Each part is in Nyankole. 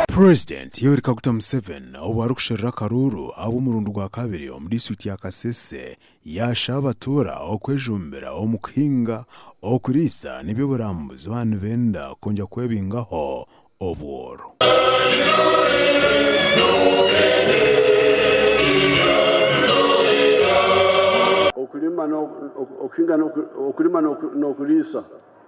Purezidenti Yoweri Kaguta Museven obu arikusherura akaruuru ahabw'omurundi gwa kabiri omu disiturikiti ya Kasese, yaasha abatuura okwejumbira omu kuhinga, okuriisa n'eby'oburambuzi baaba nibenda kwongera kwebingaho obworo. Okurima n'okuriisa.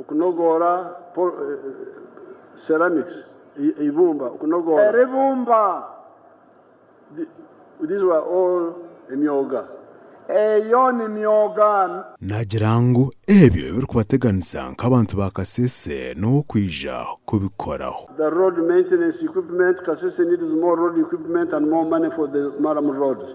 Okunogoora, Ceramics, Eibumba, okunogoora. Eibumba, These were all emyoga, eyo ni myoga. Naagira ngu ebyo ebirikubateganisa nk'abantu ba Kasese n'ow'okwija kubikoraho. The road maintenance equipment, Kasese needs more road equipment and more money for the Maramu roads.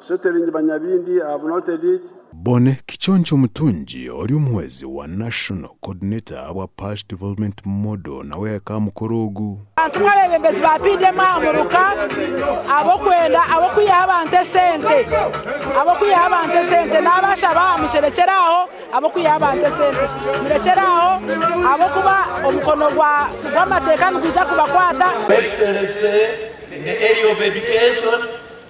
Sotering Banyabindi have noted it. Bonne Kiconco Mutungi ori omuhwezi wa National Coordinator abwa Pash Development Model nawe yahika aha mukoro ogu. Abantu nk'abeebembezi ba PDM aha muruka ab'okwenda ab'okwihaho abantu esente ab'okwihaho abantu esente naabashaba aha mukirekyere aho ab'okwihaho abantu esente murekyere aho ahabw'okuba omukono gwa gw'amateeka nigwija kubakwata. Excellency in the area of education.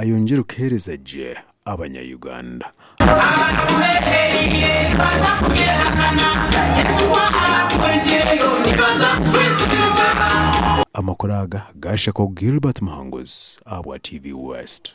Ayongyere kuheereza gye abanya Uganda. Amakuru aga gaashako Gilbert Muhanguzi ahabwa TV West.